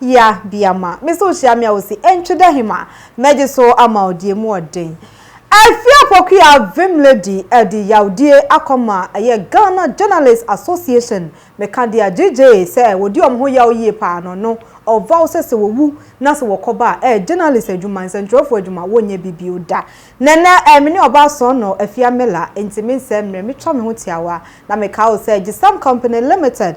Ya biama me sɛ ohyia me a ose entwe dɛ hema mɛgye so ama wo deɛ mu ɔden Afie Apokuya vim lady ɛde yawdie akɔ ma ɛyɛ Ghana Journalist Association me ka deɛ gyegyeee sɛ wɔdi wɔn ho yaw yie paa no no ɔvaw sɛ sɛ wɔwu na sɛ wɔkɔ ba a ɛyɛ journalist adwuma nsɛntwerɛfoɔ adwuma wɔnyɛ bi bio da Nɛnɛ ɛɛ me ne ɔbaa sɔn no Afia Miller enti me nsɛɛ mmerɛ me twa me ho tiawa na me ka wo sɛ Gyesam Company Limited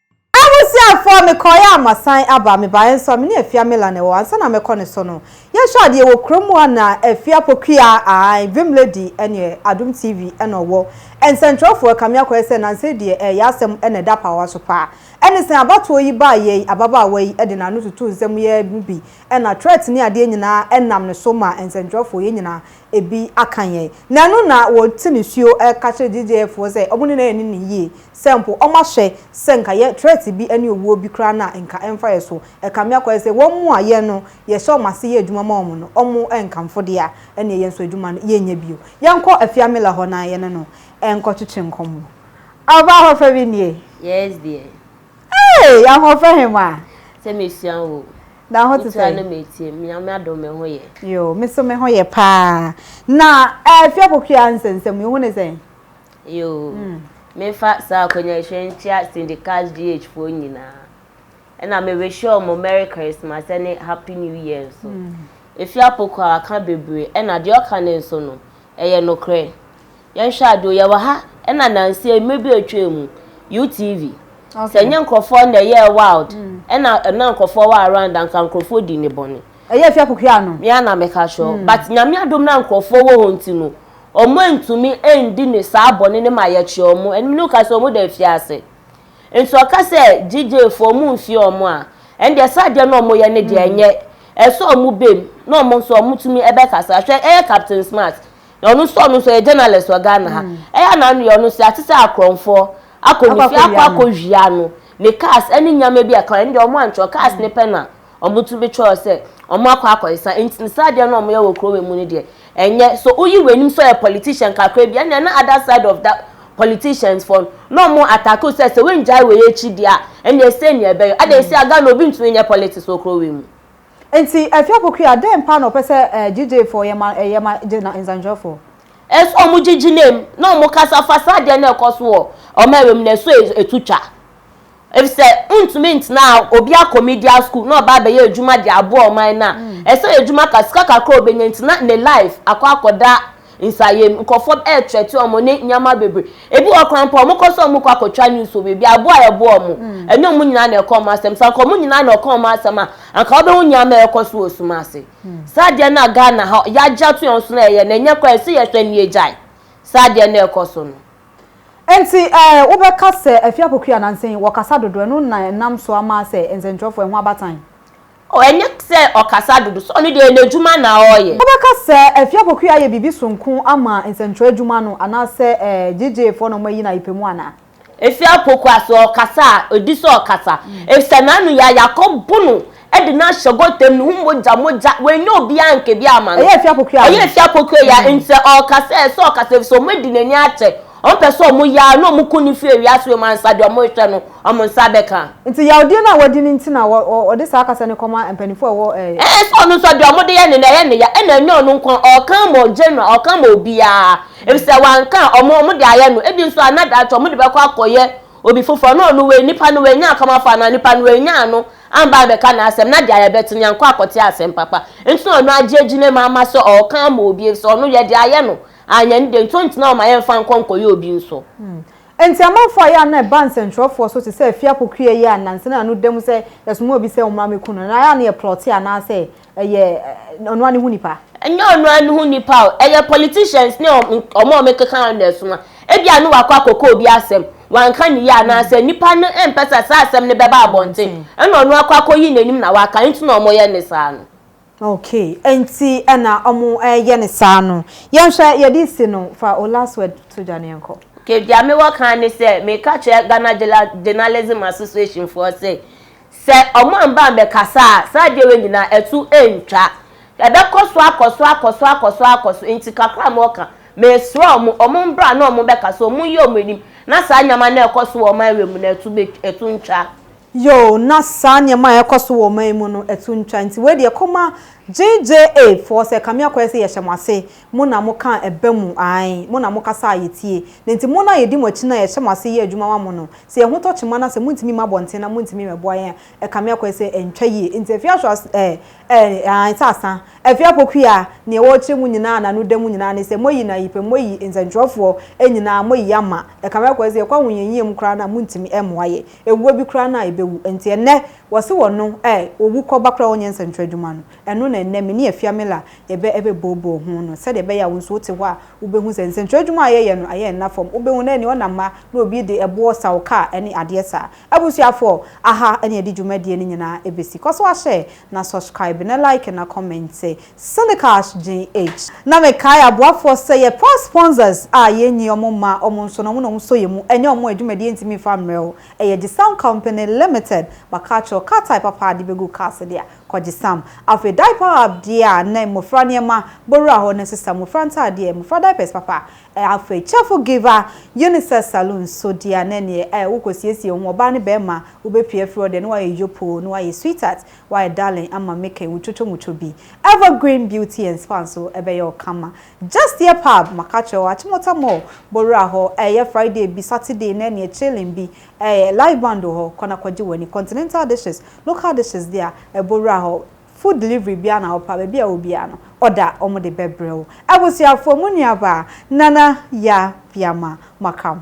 Abusuafoɔ, mekɔeɛ a masan aba. Mebaeɛ nso a, me ne Afia Miller na ɛwɔ hɔ. Ansa na mɛkɔ ne so no, yɛhwɛ adeɛ wɔ kurom mu a na Afia Pokuya, aane, Vim Lady ɛneɛ Adom TV na ɔwɔ. Nsɛnkyerɛwfoɔ, ɛkame akɔyɛ sɛ nnansa yi deɛ ɛɛyɛ asɛm na ɛda apaawa so paa. Ɛne sɛn abatoɔ yi baeɛ yi, ababaawa yi de n'ano tutuu nsɛm yi ara mu bi, ɛna threat ne adeɛ nyinaa nam ne so maa nsɛnkyerɛwfoɔ yɛn nyinaa ebi aka yɛn. Na ɛno na wɔte nisuo reka kyerɛ JJF foɔ sɛ wɔn ne no anni no yie, sɛ mpo wɔn ahwɛ sɛ nka yɛn threat bi ne owuo bi koraa no a nka ɛmfa yɛn so. Ɛkame akɔyɛ sɛ wɔn mu a yɛn no yɛhyɛ wɔn ase yɛ adwuma ma wɔn no, wɔn nkamfo deɛ a ɛneɛ yɛn nso adwuma no yɛnyɛ bio. Yɛnkɔ Afia Miller hɔ na yɛne no nkɔtwetwe nkɔmmɔ. Aba ahoɔfɛ bi nie. Yes deɛ. Hey! Ahoɔfɛ hemaa. Sɛ mesua wo. Na ho te sɛn? Metua no metie. Nyame adom me ho yɛ. Yoo, me so me ho yɛ paa. Na Afia Pokuaa nsɛnsɛmu yi, wo ho ne sɛn? Yoo, memfa saa akwanya yi nhyɛ nkyia Syndicats GH foɔ nyinaa. Ɛna me wishe wɔn Merry Christmas ɛne Happy New Year nso. Afia Pokuaa ka bebree, ɛna deɛ ɔka no nso no, ɛyɛ nokorɛ. Yɛnhwɛ ade o, yɛwɔ ha na nansa yi, mmere bi a atwaa mu, UTV, sɛ ɛnyɛ nkurɔfoɔ na ɛyɛɛ wild, ɛna na nkurɔfoɔ wɔ around a, anka nkurɔfoɔ di ne bɔne. Ɛyɛ fi akokoa ano. Me ara na meka kyerɛ wo. But Nyame adom na nkurɔfoɔ wɔ hɔ nti no, wɔantumi andi ne saa bɔne no ma yɛkyerɛ wɔn. Ɛnum no ka sɛ wɔn da afiase. Nti ɔka sɛ GJ foɔ wɔn mfie wɔn a, ɛndeɛ saa adeɛ no a wɔyɛ no deɛ ɛnyɛ, ɛsɛ sɛ wɔn bam na wɔn nso wɔtumi bɛkasa. Hwɛ ɛyɛ Captain Smart, Na ɔno nso ɔno nso ɔyɛ journalist wɔ Ghana ha. Ɛyɛ a n'ano yɛ ɔno nso yɛate sɛ akorɔmfoɔ akɔ ne fie akɔ akɔwia no. Ne cars ne nneɛma bi a ɛka ho ɛno deɛ wɔantwerɛ. Cars no pɛ na wɔtumi twerɛɛ sɛ wɔakɔ akɔsesa. Enti no saa adeɛ no a wɔyɛ wɔ kuro wei mu no deɛ, ɛnyɛ. So woyi w'anim sɛ ɔyɛ politician kakra bi a, ɛnneɛ na other side of that politicians foɔ no, na wɔn attack wo sɛ, sɛ woanngyae wei akyi deɛ a, ɛnneɛ sei na ɛbɛyɛ wo. Adɛn sei a Ghana obi ntumi nyɛ politics wɔ kuro wei mu? Nti Afie Apokuya dɛn paa na ɔpɛ sɛ ɛɛ gyigyeefoɔ yɛ ma ɛyɛ ma gye na nsɛntwerɛfoɔ? Ɛsɛ ɔmo gyigye na mu na ɔmo kasa fa saa adeɛ no a ɛkɔ so wɔ ɔman wei mu no ɛsɛ ɛtu twa. Efisɛ wontumi ntena a obi akɔ media school na ɔba abɛyɛ adwuma de aboa ɔman no a ɛsɛ adwuma ka sika kakra a obenya nti na ne life akɔ akɔda Nsayɛ mu, nkorɔfoɔ retrɛte wɔn ne nneɛma bebree. Ebi wɔ hɔ koraa mpo a, wɔkɔ so a wɔkɔ akɔtwa news wɔ baabi a, aboa a ɛboa wɔn no, ɛnyɛ wɔn nyinaa na ɛka wɔn asɛm. Sɛ anka wɔn nyinaa na ɛka wɔn asɛm a, anka wobɛhu nneɛma a ɛrekɔ so wɔ sum ase. Saa adeɛ no a Ghana ha yɛagye ato yɛn so na yɛyɛ no, ɛnyɛ koraa, ɛsɛ yɛhwɛ na yɛgyae saa adeɛ no a ɛrekɔ so no. Enti eh, wobɛka sɛ Afie Apoku Ananse yi, wɔkasa dodo, ɛno na ɛnam so ama asɛ nsɛntwerɛfoɔ, ɛho abatan? Oh, ɛnyɛ sɛ ɔkasa dodo, so ɔno deɛ n'adwuma na ɔreyɛ. Wobɛka sɛ Afie Apoku ayɛ biribi sononko ama nsɛntwerɛ adwuma no anaasɛ JJ foɔ na wɔayi no ayepɛ mu anaa? Afie Apoku a sɛ ɔkasa a, ɔdi sɛ ɔkasa ɛfisɛ n'ano yɛ a yɛakɔbo no de no ahyɛ gotam, ne ho mogya mogya, wannya obiara anka bi amma no. Ɛyɛ Afie Apoku a. Ɛyɛ Afie Apoku a, nti sɛ ɔrekasa a ɛsɛ sɛ ɔkasa ɛfisɛ wɔadi n'ani akyɛ. Wɔmpɛ sɛ wɔn yar na wɔn kun no fi ewiase wɔ mu ansa deɛ wɔrehwɛ no wɔn nsa bɛka. Nti yawdie no a wadi no nti na ɔde saa kasa no kɔma mpaninfoɔ a ɛwɔ ɛɛ. Ɛɛ sɛ ɔno nso deɛ wɔde yɛ no no ɛyɛ no ya ɛna ɛnyɛ ɔno nko ara ɔreka ama general ɔreka ama obiara efisɛ wanka a wɔn wɔn de ayɛ no ebi nso ana daakye wɔn de bɛkɔ akɔyɛ obi foforɔ na ɔno wei nipa no wannya akɔmafo anaa nipa no wannya ano amba abɛka n'asɛm na deɛ yɛbɛte no yankɔ akɔte asɛm papa nti na ɔno agye agyina mu ama sɛ ɔreka ama obi efisɛ ɔno yɛde ayɛ no Anyɛ ne dɛ nti ɔntena hɔ ma yɛmfa nkɔ nkɔyɛ obi nso. Enti amanfo a ɛyɛ a na ɛba nsɛnkyerɛwfo so te sɛ afie akokoaa yi a nnansa na ano da mu sɛ yɛsomaa obi sɛ ɔmmra mmeku no no, ɛyɛ a na yɛplɔte anaasɛ ɛyɛ ɔno ara ne ho nipa? Ɛnyɛ ɔno ara ne ho nipa o, ɛyɛ politicians ne wɔn a wɔkeka no na ɛsoma. Ebia na wakɔ akɔka obi asɛm, wanka no yie anaasɛ nnipa no mpɛ sɛ saa asɛm no bɛba abɔnten, ɛnna ɔno akɔ akɔyi n'anim na waka, nti na wɔyɛ no saa no. Okay ɛnti ɛna ɔmo ɛyɛ no saa no. Yɛnhwɛ yɛde si no fa wo last word to dwa no yɛnkɔ. Okay deɛ me wɔ kan ne sɛ meka kyerɛ Ghana Journalism Association foɔ se sɛ ɔmo amba ambɛkasa a saa adeɛ wei nyinaa ɛto ɛntwa. Ɛbɛkɔ so akɔ so akɔ so akɔ so akɔ so nti kakra a me wɔ ka mesrɛ ɔmo ɔmo mbra na ɔmo bɛkasa ɔmo nyi ɔmo anim na saa nneɛma no a ɛkɔ so wɔ ɔman wei mu no ɛto bɛ ɛto ntwa. Yoo na saa nneɛma a ɛkɔ so wɔ ɔman yi mu no ɛto ntwa nti wei deɛ kɔma JJA foɔ sɛ kame akɔyɛ sɛ yɛhyɛ mo ase mo na mo kaa ɛba mu ae mo na mo kasa a yɛtie na nti mo no a yɛdi mo akyi no a yɛhyɛ mo ase yɛ adwuma ma mo no sɛ yɛn ho tɔ kyema na sɛ mo ntumi mma abɔnten na mo ntumi mɛboa yɛn a kame akɔyɛ sɛ ɛntwa yie nti afei ahwɛ as eh eh ae sɛ asa afei apokuya nea ɛwɔ akyire mu nyinaa na no da mu nyinaa ne sɛ mo ayi no ayi pɛ mo ayi nsɛntwerɛfoɔ nyinaa mo ayi ama kame akɔyɛ sɛ yɛkɔ ahohiahia mu koraa no a mo ntumi mmoa yɛn Ewuo bi koraa no a ebewu. Enti ɛnnɛ, wɔse wɔ no ɛ, owu kɔba koraa a ɔnyɛ nsɛnkyerɛ adwuma no. Ɛno na ɛnnɛ me ne Afiamila yɛbɛ ɛbɛ booboo ho no, sɛdeɛ ɛbɛyɛ a wo nso wote hɔ a wubehu sɛ nsɛnkyerɛ adwuma a yɛyɛ no ɛyɛ nna fam. Wubehu na ɛneɛ ɔnam ha na obi de ɛboɔ saw kaa ɛne adeɛ saa. Abusuafoɔ, aha ɛne yɛde dwumadie no nyinaa ɛbesi. Kɔ so ara hyɛ, na subscribe, na like, na comment Silicash GH. Na me kae aboafoɔ sɛ yɛ pra sponsors a yɛn nyi ɔmo mma ɔmo nso na ɔmo na ɔmo sɔ yɛn mu ɛnyɛ ɔmo adwumadie ntumi nfa mmerɛ wo ɛyɛ Gisam company limited ba car kyerɛw car type apa a de bɛgu cars deɛ a kɔ Gisam afei diaper hub deɛ a ne mmofra nneɛma bɔ wura hɔ ne sesa mmofra ntaadeɛ mmofra diapers papa a afei cheerful giver Unisex saloon nso deɛ a ne neɛ a wo kɔ siesie wo ho ɔbaa ne bɛɛma wo bɛ pue afiri hɔ deɛ ne wayɛ yopoo ne wayɛ sweetheart Wayɛ darling ama me kɛ wutoto muto bi Evergreen Beauty and Spa nso ɛbɛyɛ wo kama Just yɛ pub maka kyerɛ wo Achimota Mall bɔ wura hɔ Ɛyɛ Friday bi Saturday na ɛneɛ chilling bi Ɛyɛ live band wɔ hɔ kɔ na kɔgye w'ani Continental dishes local dishes deɛ a ɛbɔ wura hɔ Food delivery biara na wopɛ a baabi a ɛwɔ biara no order wɔn de bɛbrɛ wo Abusuafoɔ mo nuabaa Nana Yaa Biama Makam.